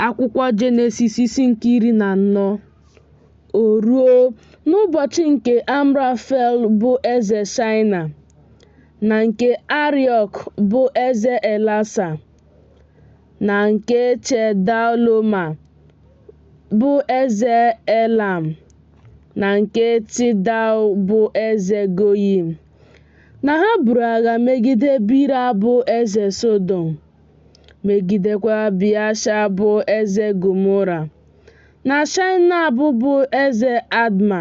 Akwụkwọ Jenesis isi nke iri na anọ O ruo n'ụbọchị nke Amrafel bụ eze Shaịna na nke Ariọk bụ eze Elasa na nke Chedaloma bụ eze Elam na nke Tidal bụ eze Goyim na ha buru agha megide Bira bụ eze Sodọm. megidekwa Biasha bụ eze Gomora, na Shainab bụ eze Adma,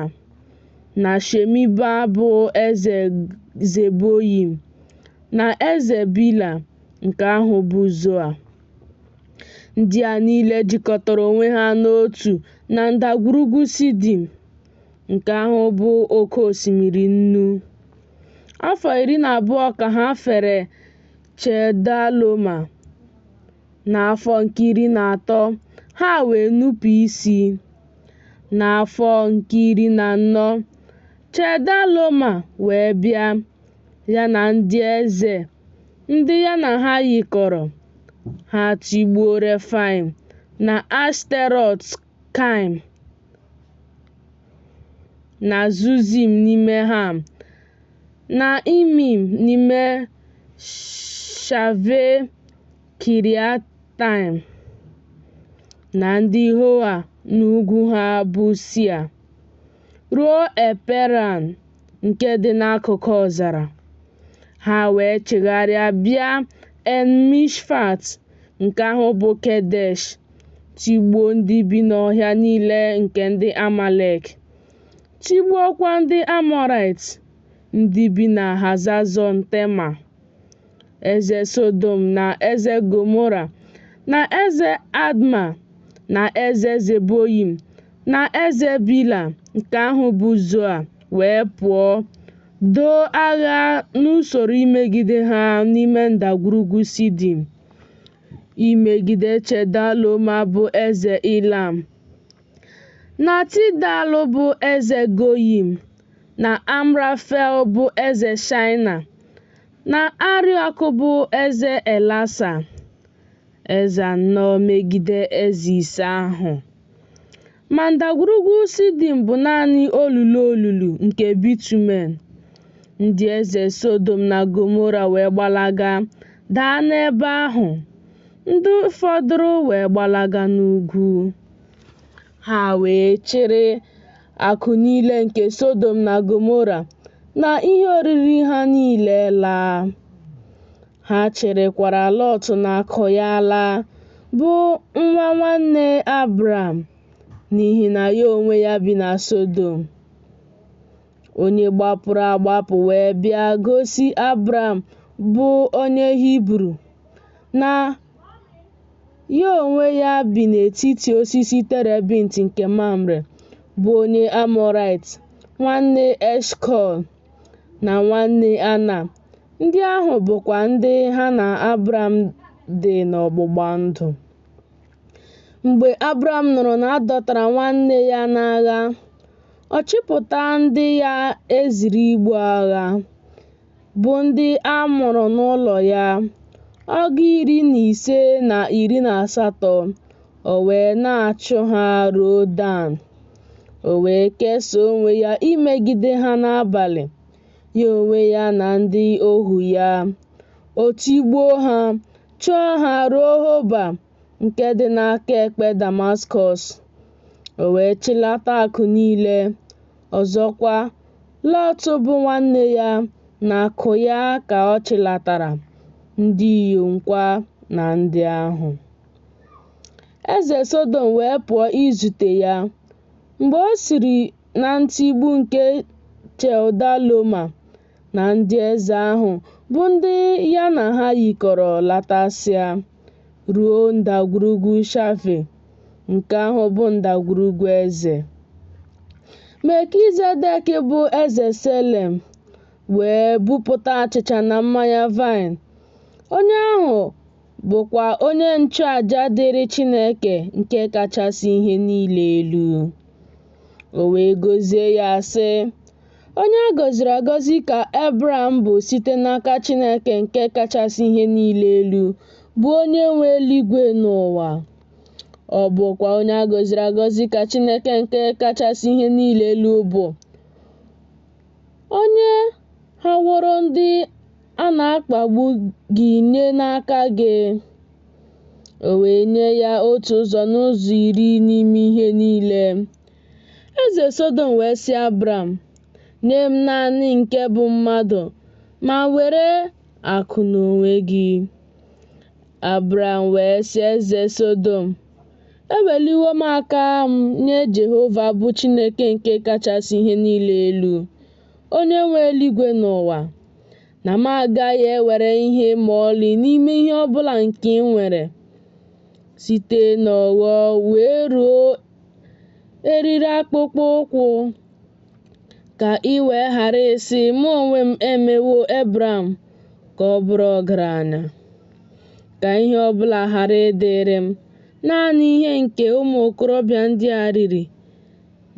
na Shemiba bụ eze Zeboyim, na eze Bila nke ahụ bụ Zoa. Ndị a niile jikọtara onwe ha n'otu na ndagwurugwu Sidim, nke ahụ bụ oke osimiri nnu. Afọ iri na abụọ ka ha fere Chedaloma. N'afọ nke iri na atọ, ha wee nupụ isi. N'afọ nke iri na anọ, Chedaloma wee bịa, ya na ndị eze ndị ya na ha yikọrọ, ha tigbuo Refaim na Ashterọt. Kaim na Zuzim n'ime Ham na Imim n'ime Shave Kiriataim na ndị Hoa n'ugwu ha bụ Sia. ruo Eperan nke dị n'akụkụ ọzara. Ha wee chigharịa bịa En Mishpat nke ahụ bụ Kedesh, tigbuo ndị bi n'ọhịa niile nke ndị Amalek, tigbuokwa ndị Amọrait, ndị bi na Hazazọn Tema. eze Sodom na eze Gomora na eze Adma na eze Zeboyim na eze Bila nke ahụ bụ Zoa wee pụọ doo agha n'usoro imegide ha n'ime ndagwurugwu Sidim imegide Chedaloma bụ eze Ilam Na Tidal bụ eze Goyim, na Amrafel bụ eze Shaịna, na Ariọk bụ eze Elasa. Eze anọ megide eze ise ahụ. Ma ndagwurugwu Sidim bụ naanị olulu olulu nke bitumen. Ndị eze Sodom na Gomora wee gbalaga daa n'ebe ahụ, ndị fọdụrụ wee gbalaga n'ugwu. Ha wee chịrị akụ niile nke Sodom na Gomora na ihe oriri ha niile laa. Ha chịrịkwara Lọt na akụ ya laa, bụ nwa nwanne Abram, n'ihi na ya onwe ya bi na Sodom. Onye gbapụrụ agbapụ wee bịa gosi Abram bụ onye Hibru na Ya onwe ya bi n'etiti osisi terebint nke Mamre, bụ onye Amọraịt, nwanne Eshkọl na nwanne Ana, ndị ahụ bụkwa ndị ha na Abram dị n'ọgbụgba ndụ. Mgbe Abram nụrụ na a dọtara nwanne ya n'agha, ọ chịpụta ndị ya e ziri ibu agha. bụ ndị a mụrụ n'ụlọ ya, ọgụ iri na ise na iri na asatọ, o wee na-achụ ha ruo Dan. O wee kesaa onwe ya imegide ha n'abalị, ya onwe ya na ndị ohu ya. O tigbuo ha, chụọ ha ruo Hoba nke dị n'aka ekpe Damaskọs. O wee chịlata akụ niile, Ọzọkwa, Lọt bụ nwanne ya na akụ ya ka ọ chịlatara, ndị inyomkwa na ndị ahụ. Eze Sodom wee pụọ izute ya, mgbe o siri na ntigbu nke Chedaloma na ndị eze ahụ bụ ndị ya na ha yikọrọ latasịa ruo ndagwurugwu Shafe, nke ahụ bụ ndagwurugwu eze. Melkizedek bụ eze Selem wee bupụta achịcha na mmanya vaịn. Onye ahụ bụkwa onye nchụaja dịrị Chineke nke kachasị ihe niile elu. O wee gọzie ya sị, Onye a gọziri agọzi ka Abram bụ site n'aka Chineke nke kachasị ihe niile elu, bụ onye nwe eluigwe na ụwa. Ọ bụkwa onye a gọziri agọzi ka Chineke nke kachasị ihe niile elu bụ, onye haworo ndị a na-akpagbu gị nye n'aka gị, o wee nye ya otu ụzọ n'ụzọ iri n'ime ihe niile. Eze Sodom wee sị Abram, Nye m naanị nke bụ mmadụ, ma were akụ n'onwe gị. Abram wee sị eze Sodom, Eweliwo m aka m nye Jehova bụ Chineke nke kachasị ihe niile elu, onye nwe eluigwe na ụwa, na m agaghị ewere ihe ma ọlị n'ime ihe ọ bụla nke i nwere, site n'ogho wee ruo eriri akpụkpọ ụkwụ ka i wee ghara ịsị mụ onwe m emewo Ebram ka ọ bụrụ ọgaranya ka ihe ọ bụla ghara ịdịrị m naanị ihe nke ụmụ okorobịa ndị a riri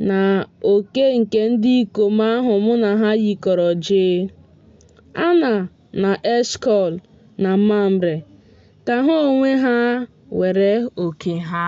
na oke nke ndị ikom ahụ mụ na ha yikọrọ jee Ana na Eshkọl na Mamre ka ha onwe ha were oke ha.